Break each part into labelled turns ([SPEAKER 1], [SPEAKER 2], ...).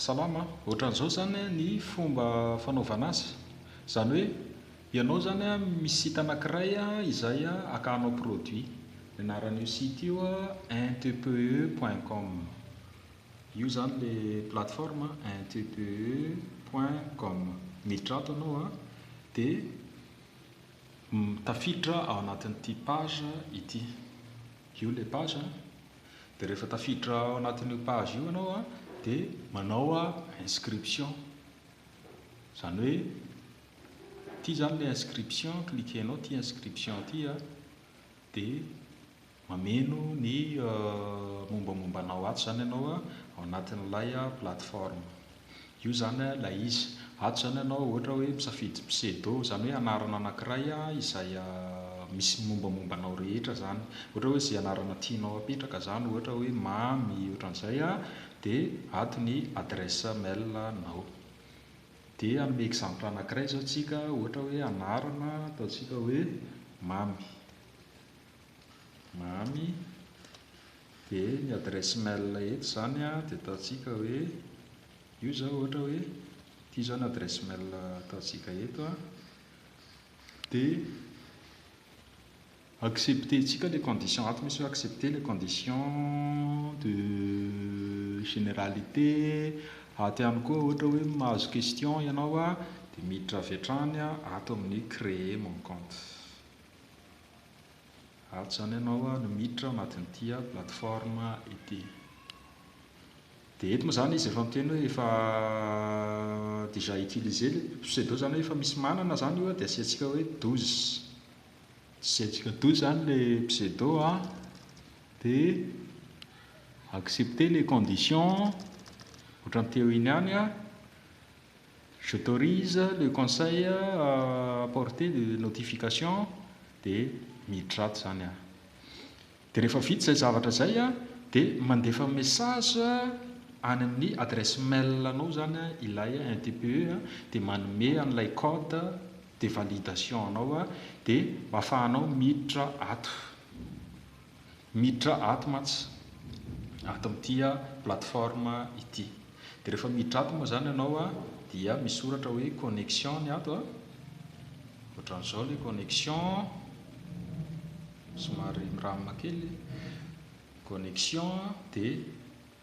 [SPEAKER 1] Salama, ohatran'izao zany ny fomba fanaovana azy, zany hoe ianao zany a misy site anakiray izay akahanao produit, ny anaran'io site io intpe point com, io zany le plateforme intpe point com, miditra ato anao a de tafiditra ao anatin'ity page ity, io le page a. Dia rehefa tafiditra ao anatin'io page io ianao dia manao inscription. Izany hoe ity izany ilay inscription, cliquer-nao ity inscription ity dia mameno ny mombamomba anao ato izany ianao ao anatin'ilay plateforme. Io zany a ilay izy. Ato izany ianao ohatra hoe misafidy pseudo, izany hoe anarana anankiray izay misy ny mombamomba anao rehetra izany. Ohatra hoe izay anarana tianao hapetraka izany ohatra hoe Mamy ohatran'izay a, dia ato ny adresse mail anao. Dia hanome exemple anankiray izao isika ohatra hoe anarana ataontsika hoe Mamy. Mamy de ny adresse mail eto zany a de ataontsika hoe io zao ohatra hoe ity zao ny adresse mail ataontsika eto a de accepter tsika le condition ato misy hoe accepter le condition de generalité ato ihany koa ohatra hoe mahazo question ianao a de miditra avy hatrany ato amin'ny créer mon compte Ato izany ianao no miditra ao anatin'ity plateforme ity. Dia eto moa izany izy efa miteny hoe efa déjà utilisé le pseudo izany hoe efa misy manana izany io dia asiantsika hoe douze. Asiantsika douze izany le pseudo an, dia accepter les conditions, ohatran'ny teo iny ihany an. Je t'aurise le conseil à apporter de notification de miditra ato zany aho de rehefa vita zay zavatra zay a de mandefa message any amin'ny adresse mail anao zany a ilay NTPE a de manome an'ilay code de validation anao a de afahanao miditra ato. Miditra ato mantsy, ato amin'ity plateforme ity. Dia rehefa miditra ato moa izany ianao dia misoratra hoe connexion ny ato, ohatran'izao ilay connexion, somary miramina kely, connexion dia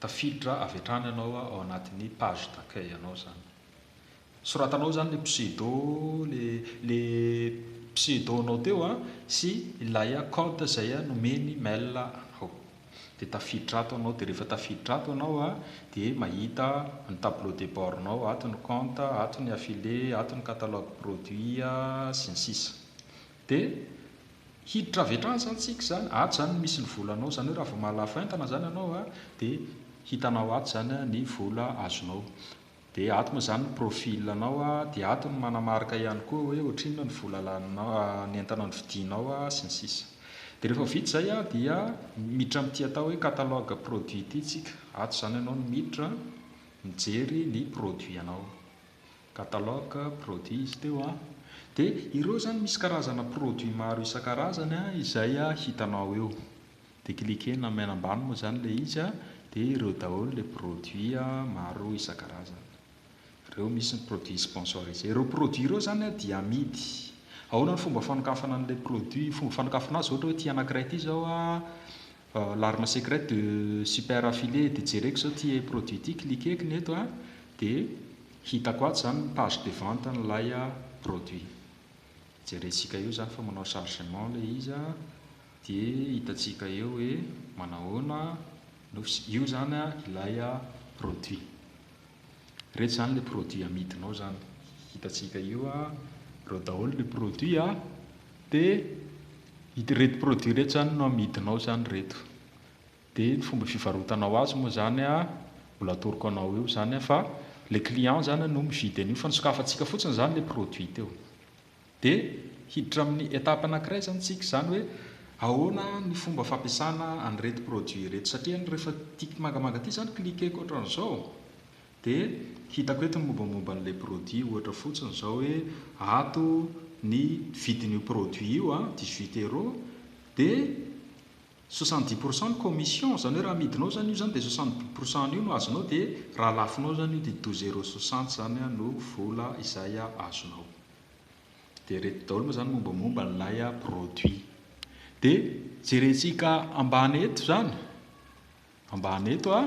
[SPEAKER 1] tafiditra avy hatrany ianao ao anatin'ny page d'accueil anao izany. Soratanao zany le pseudo le le pseudo nao teo a sy ilay a code zay a nomeny mail anao de tafiditra ato anao de refa tafiditra ato anao a de mahita ny tableau de bord nao ato ny compte ato ny affile ato ny catalogue produit a sy ny sisa de hiditra avy hatrany zany tsika zany ato zany misy ny volanao zany hoe raha vao mahalafo entana zany anao a de hitanao ato zany a ny vola azonao Dia ato moa izany ny profil anao dia ato ny manamarika ihany koa hoe ohatrinona ny vola laninao, ny entana novidianao sy ny sisa Dia rehefa vita izay dia miditra amin'ity atao hoe catalogue produit ity isika, ato izany ianao no miditra mijery ny produit anao, catalogue produit izy teo an, dia ireo izany misy karazana produit maro isan-karazany izay hitanao eo. Dia cliquer-na main ambany moa izany ilay izy a, dia ireo daholo ilay produit maro isan-karazany. Ireo misy ny produit sponsorisé. Ireo produit ireo izany a dia amidy. Ahoana ny fomba fanokafana an'ilay produit? Fomba fanokafana azy ohatra hoe ity anankiray ity izao a, l'arme secrète de super affilié, dia jereko izao ity produit ity, cliquer-ko ny eto a, dia hitako ato izany ny page de vente an'ilay produit. Jerentsika eo izany fa manao chargement ilay izy a. Dia hitantsika eo hoe manahoana no fs. Io izany ilay produit. Ireto izany ilay produit amidinao izany. Hitantsika io ireo daholo ny produit a. Dia ireto produit ireto izany no amidinao izany ireto. Dia ny fomba fivarotanao azy moa izany a, mbola atoroko anao eo izany a, fa ilay client izany no mividy an'io fa nosokafantsika fotsiny izany ilay produit teo. Dia hiditra amin'ny étape anankiray izany isika, izany hoe ahoana ny fomba fampiasana an'ireto produits ireto. Satria rehefa tiako mangamanga ity izany, cliquer-ko ohatran'izao, dia hitako eto ny mombamomba an'ilay produit, ohatra fotsiny izao hoe ato ny vidin'io produit io, dix huit euros, dia soixante dix pour cent ny commission, izany hoe raha amidinao izany io izany dia soixante dix pour cent an'io no azonao, dia raha alafinao izany io dia douze euros soixante izany no vola izay azonao. Dia ireto daholo moa izany mombamomba ilay produit. Dia jerentsika ambany eto izany, ambany eto a,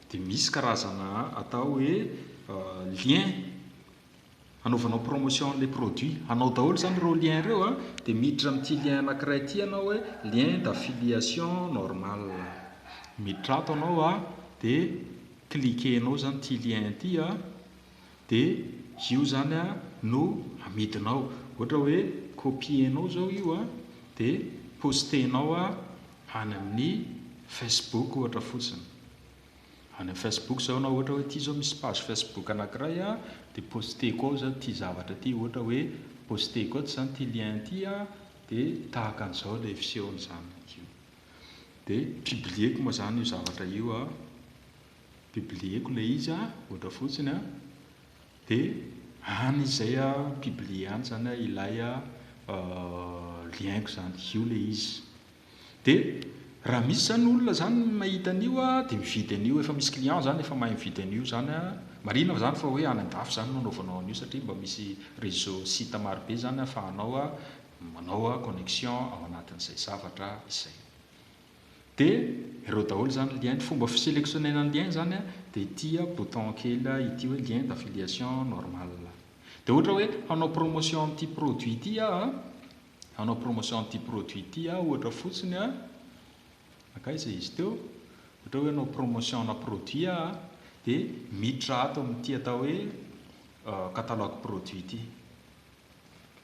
[SPEAKER 1] dia misy karazana atao hoe lien hanaovanao promotion an'ilay produit. Hanao daholo izany ireo lien ireo a, dia miditra amin'ity lien anankiray ity ianao hoe lien d'affiliation normal. Miditra ato ianao a, dia cliquer-nao izany ity lien ity a. dia io izany an no amidinao, ohatra hoe copier-nao izao io an dia poster-nao an any amin'ny Facebook ohatra fotsiny, any amin'ny Facebook izao ianao ohatra hoe ity izao misy page Facebook anankiray an dia poster-ko ao izany ity zavatra ity, ohatra hoe poster-ko eto izany ity lien ity an dia tahaka an'izao ilay fisehony izany, dia publier-ko moa izany io zavatra io an. Publier-ko ilay izy a, ohatra fotsiny a, dia any izay a publier any izany a ilay a lien-ko izany, io ilay izy. Dia raha misy izany olona izany mahita an'io a, dia mividy an'io, efa misy client izany efa mahay mividy an'io izany a, marihina fa izany fa hoe any an-dafy izany no anaovanao an'io satria mba misy réseau, site maro be izany ahafahanao a manao a connexion ao anatin'izay zavatra izay. De ireo daholo izany lien, ny fomba fiselectionner-na lien izany an, dia ity bouton kely ity hoe lien d'affiliation normal. Dia ohatra hoe hanao promotion amin'ity produit ity aho an, hanao promotion amin'ity produit ity aho ohatra fotsiny an, mankaiza izy teo, ohatra hoe hanao promotion ana produit aho an, dia miditra ato amin'ity atao hoe catalogue produit ity,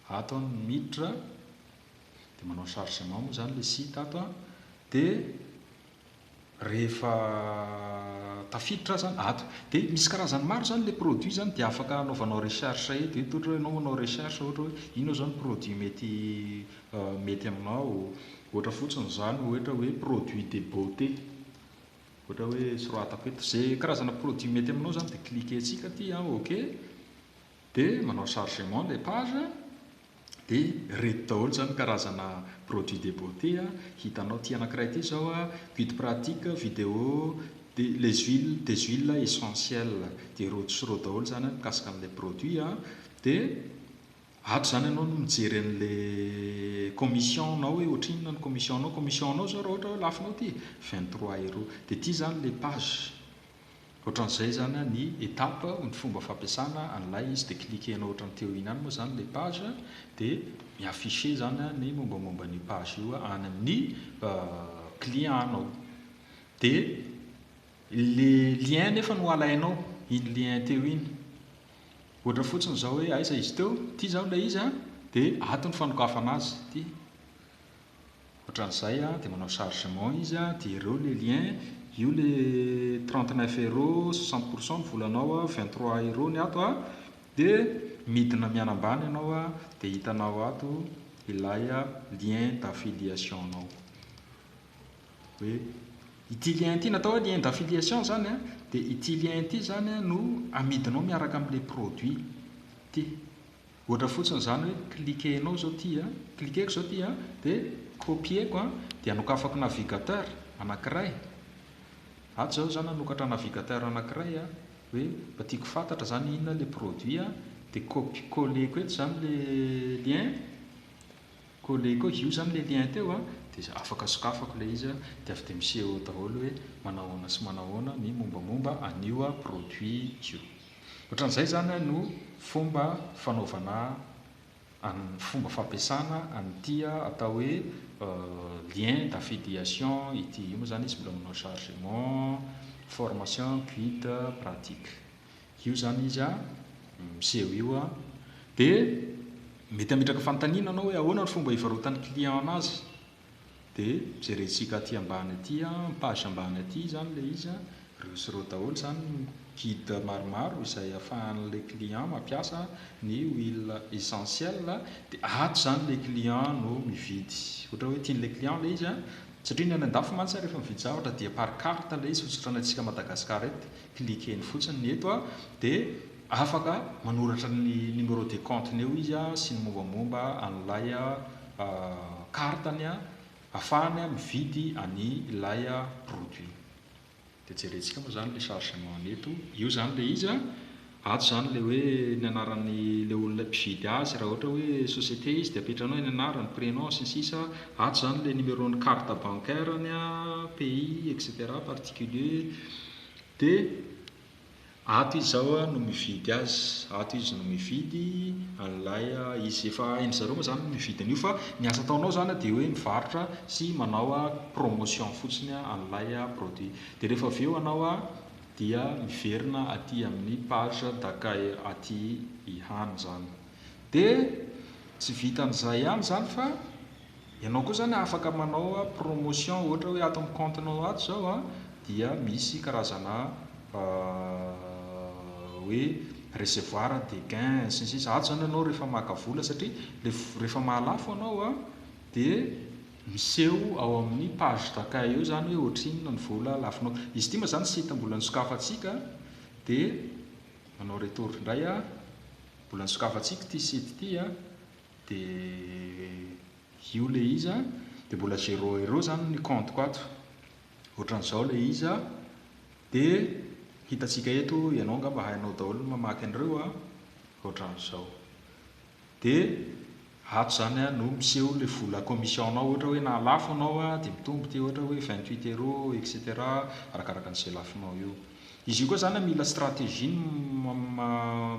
[SPEAKER 1] ato aho no miditra, dia manao chargement moa izany ilay site ato an, dia rehefa tafiditra aza ato, dia misy karazany maro izany ilay produit izany, dia afaka anaovanao recherche eto, eto ohatra hoe ianao manao recherche ohatra hoe inona izao ny produit mety mety aminao, ohatra fotsiny izany ohatra hoe produit de beauté, ohatra hoe soratako eto, izay karazana produit mety aminao izany dia cliquer-tsika aty an, ok. dia manao chargement ilay page dia reto daholo izany ny karazana produits de beauté hitanao, ity anankiray ity izao a, guide pratique, vidéo, dia les huiles, des huiles essentielles, dia rojo sy rojo daholo izany an mikasika an'ilay produit an, dia ato izany ianao no mijery an'ilay commission nao hoe ohatrinona ny commission nao, commission nao izao raha ohatra hoe lafonao ity vingt trois euro, dia ity izany ilay page. Ohatran'izay zany ny étape ny fomba fampiasana an'ilay izy dia cliquer anao ohatran'ny teo iny any moa zany ilay page dia mi-afficher zany ny mombamomba an'io page io any amin'ny client anao dia le lien nefa no alainao iny lien teo iny ohatra fotsiny izao hoe aiza izy teo ity izao ilay izy dia ato ny fanokafana azy ity Ohatran'izay dia manao chargement izy dia jereo le lien, io le trente neuf euros soixante pour cent ny volanao a, vingt trois euros ny ato a, dia midina mianambany ianao a, dia hitanao ato ilay lien d'affiliation nao, hoe ity lien ity, natao hoe lien d'affiliation zany a, dia ity lien ity zany no amidinao miaraka amle produit ity. Ohatra fotsiny izany hoe cliquer-nao izao ity a, cliquer-ko izao ity a, dia copier-ko a, dia anokafako navigateur anankiray, ato izaho izany hanokatra navigateur anankiray a, hoe mba tiako ho fantatra izany inona ilay produit a, dia copier, coller-ko eto izany ilay lien, coller-ko eo, io izany ilay lien teo a, dia afaka sokafako ilay izy a, dia avy dia miseho eo daholo hoe manao ahoana sy manao ahoana ny mombamomba an'io produit io. Ohatran'izay izany no fomba fanaovana an fomba fampiasana an'ity atao hoe lien d'affiliation ity. Io moa izany izy mbola manao chargement, formation, guide, pratique. Io izany izy miseho io an. Dia mety hametraka fanontaniana ianao hoe ahoana no fomba hivarotan'ny client an'azy Dia jerentsika aty ambany aty an, ny page ambany aty izany ilay izy an, ireo sy ireo daholo izany ny guide maromaro izay afahan'ilay client mampiasa ny huile essentiel, dia ato izany ilay client no mividy ohatra hoe tian'ilay client ilay izy an, satria ny any an-dafy mantsy an rehefa mividy zavatra dia par carte ilay izy, tsy ohatry ny antsika Madagascar eto, cliquer-ny fotsiny, ny eto an dia afaka manoratra ny numéro de compte-ny eo izy an sy ny mombamomba an'ilay. carte ny afahany mividy any ilay produit de jerentsika moa zany le chargement ny eto io zany le izy an ato zany le hoe ny anarany le olona mpividy azy raha ohatra hoe société izy de apetrahanao ny anarany prénom sy ny sisa ato zany le numéro ny carte bancaire ny pays etc particulier de Ato izy zao no mividy azy, ato izy no mividy an'ilay izy. Efa hain-dry zareo moa zany ny mividy an'io fa ny asa ataonao zany dia hoe mivarotra sy manao promotion fotsiny an'ilay produit. Dia rehefa avy eo anao dia miverina aty amin'ny page d'accueil aty ihany zany. Dia tsy vitan'izay ihany zany fa. Ianao koa zany afaka manao promotion ohatra hoe ato amin'ny compte nao ato zao a dia misy karazana hoe recevoir des gains sy ny sisa ato zany ianao rehefa maka vola satria le rehefa mahalafo anao a de miseho ao amin'ny page d'accueil eo zany hoe ohatrinona ny vola lafonao izy ity moa zany site mbola nisokafantsika de manao retour indray a mbola nisokafantsika ity site ity a de io le izy a, de mbola zero euro zany ny compte-ko ato, ohatran'izao le izy a, de hitantsika eto, ianao angamba hainao daholo ny mamaky an'ireo a, ohatran'izao, de ato zany a no miseho le vola commission-nao, ohatra hoe na lafo ianao a, de mitombo ity ohatra hoe vingt huit euro etc, arakaraka an'izay lafonao eo, izy io koa zany a mila stratégie ny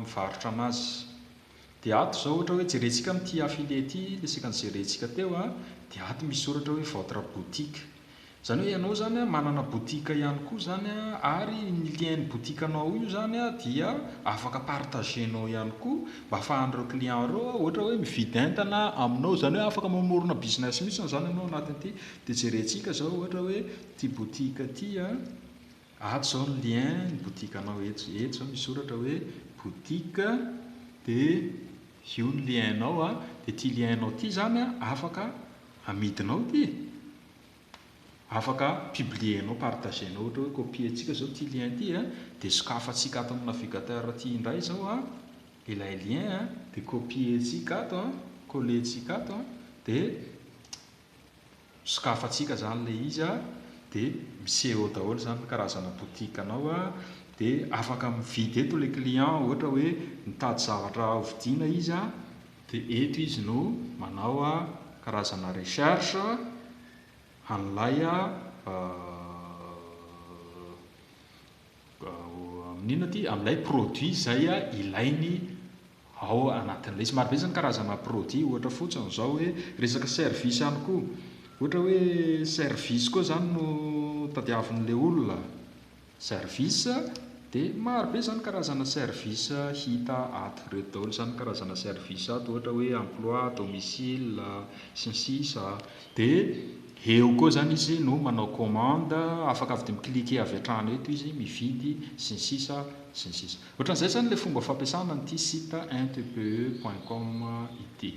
[SPEAKER 1] mivarotra an'azy. Dia ato izao ohatra hoe jerentsika amin'ity affilié ity, resaka ny jerentsika teo a, dia ato misy soratra hoe votre boutique. Izany hoe ianao izany a manana boutique ihany koa izany a, ary ny lien-n'ny boutique anao io izany a dia afaka partager-nao ihany koa mba ahafahan'ireo clients ireo a ohatra hoe mividy entana aminao, izany hoe afaka mamorona business mihitsy izany ianao anatin'ity, dia jerentsika izao ohatra hoe ity boutique ity a. Ato izao ny lien ny boutique anao eto eto izao misy soratra hoe boutique dia io ny lien anao a dia ity lien anao ity izany a afaka amidinao ity e afaka publier nao partager nao ohatra hoe copier ntsika izao ity lien ity a dia sokafantsika ato amin'ny navigateur ity indray izao a ilay lien a dia copier ntsika ato a coller ntsika ato a dia sokafantsika zany le izy a, de miseho eo daholo zany ny karazana boutique anao a, de afaka mividy eto le client ohatra hoe mitady zavatra hovidiana izy a, de eto izy no manao a karazana recherche an'ilay a. Amin'ny inona ity? Amin'ilay produit izay ilainy ao anatin'ilay izy. Marobe izany karazana produit, ohatra fotsiny izao hoe resaka service ihany koa. Ohatra hoe service koa izany no tadiavin'ilay olona. Service dia marobe izany karazana service hita ato. Ireto daholo izany ny karazana service ato, ohatra hoe emploi, domicile, sy ny sisa. Dia. Eo koa zany izy no manao commande, afaka avy de mi-cliquer avy hatrany eto izy, mividy, sy ny sisa, sy ny sisa. Ohatran'izay zany le fomba fampiasana an'ity site intpe point com ity.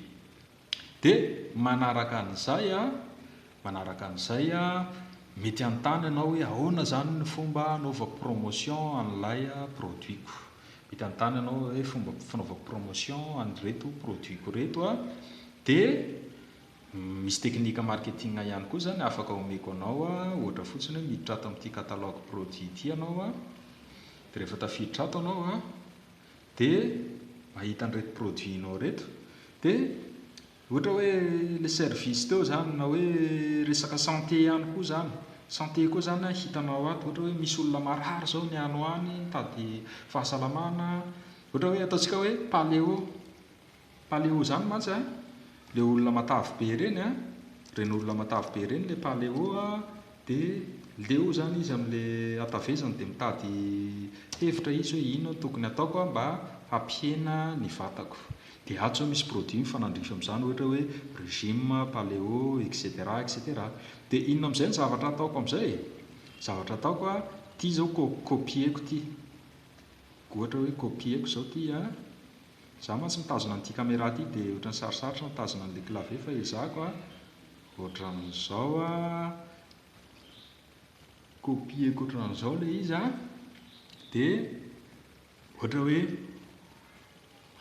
[SPEAKER 1] De manaraka an'izay a, manaraka an'izay a, mety hanontany ianao hoe ahoana zany ny fomba anaovako promotion an'ilay produit-ko. Mety hanontany ianao hoe fomba fanaovako promotion an'ireto produit-ko ireto a, de Misy teknika marketing ihany koa izany afaka omeko anao, ohatra fotsiny hoe miditra ato amin'ity catalogue produit ity ianao, dia rehefa tafiditra ato ianao dia mahita an'ireto produit-nao ireto, dia ohatra hoe ilay service teo izany na hoe resaka santé ihany koa izany, santé koa izany hitanao ato, ohatra hoe misy olona marary izao ny any ho any mitady fahasalamana, ohatra hoe ataontsika hoe paléo. Paléo zany mantsy a, le olona matavy be reny a, reny olona matavy be reny le paléo a, de leo zany izy amle hatavezany de mitady hevitra izy hoe inona no tokony ataoko a mba hampihena ny vatako, de ato zao misy produit mifanandrify amzany ohatra hoe régime paléo etc etc, de inona amzay ny zavatra ataoko amzay e? zavatra ataoko a, ty zao co-copier-ko ty, ohatra hoe copier-ko zao ty a, Za mantsy mitazona an'ity camera ity de otrany sarosarotra mitazona an'le clavier fa ezahako a, otran'izao a, copier-ko otran'izao le izy a, de ohatra hoe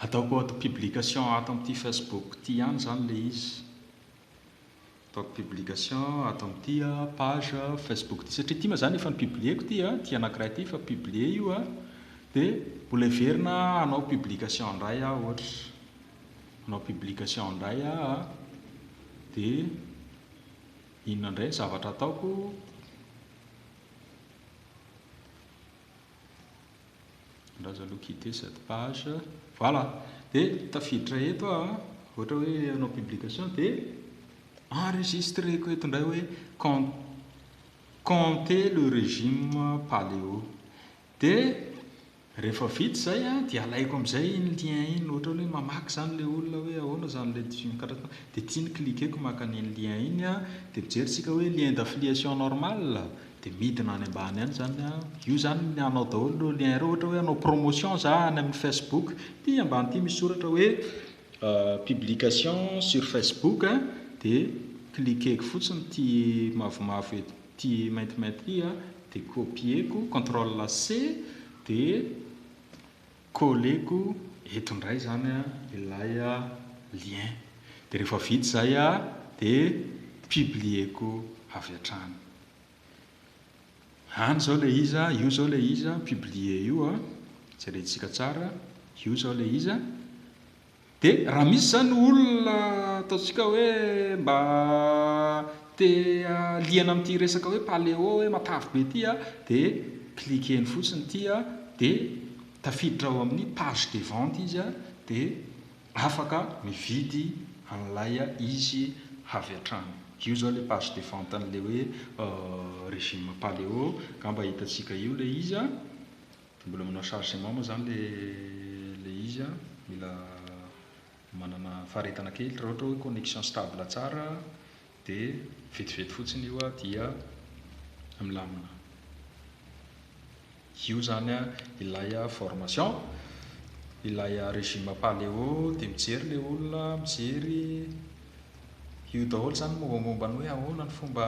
[SPEAKER 1] ataoko auto publication ato amty facebook ty ihany zany le izy. Ataoko publication ato amin'ity page Facebook ity satria ity moa izany efa nopublieko ity, ity anankiray ity efa publié io a, dia mbola heverina hanao publication indray aho ohatra, hanao publication indray aho a, dia inona indray ny zavatra ataoko? Andraza aloha quitter cette page. Voilà! Dia tafiditra eto aho, ohatra hoe hanao publication dia enregistreko eto indray hoe compter le régime paléo. Dia rehefa vita izay dia alaiko amin'izay iny lien iny, ohatra hoe mamaky izany ilay olona hoe ahoana izany ilay division carton dia ity ny cliqueko maka an'iny lien iny dia mijery isika hoe lien d'affiliation normal. Dia midina any ambany any izany an. Io izany ny anao daholo ireo lien ireo. Ohatra hoe hanao promotion za any amin'ny Facebook, ity ambany ity misy soratra hoe publication sur Facebook an, dia cliqueko fotsiny ity mavomavo eto, ity maintimainty ity an, dia copieko, control C, dia Colleko eto ndray zany ilay lien de rehefa vita zay de publieko avy hatrany. Any zao le izy, io zao le izy publie io, jerentsika tsara, io zao le izy. Dia raha misy izany olona ataontsika hoe mba te liana amin'ity resaka hoe paléo hoe matavy be ity dia cliquer-ny fotsiny ity dia tafiditra ao amin'ny page de vente izy dia afaka mividy an'ilay izy avy hatrany. Io izao ilay page de vente an'ilay hoe régime paléo, angamba hitantsika eo ilay izy. Mbola manao chargement moa zany le le izy a, mila manana faharetana kely, raha ohatra hoe connexion stable tsara de vetivety fotsiny io a dia milamina. Io zany a ilay a formation, ilay a régime paleo de mijery le olona, mijery io daholo zany mombamomba ny hoe ahoana ny fomba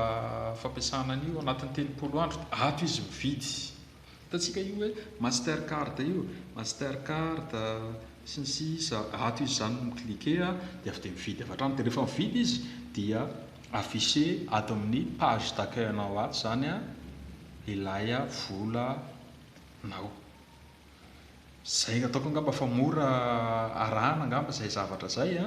[SPEAKER 1] fampiasana an'io, anatin'ny telopolo andro, ato izy mividy. Hitantsika io hoe master card io, master card sy ny sisa ato izy izany mi cliquer dia avy dia mividy avy hatrany dia rehefa mividy izy dia afficher ato amin'ny page d'accueil anao ato izany ilay volanao. Izay no ataoko angamba fa mora arahana angamba izay zavatra izay a.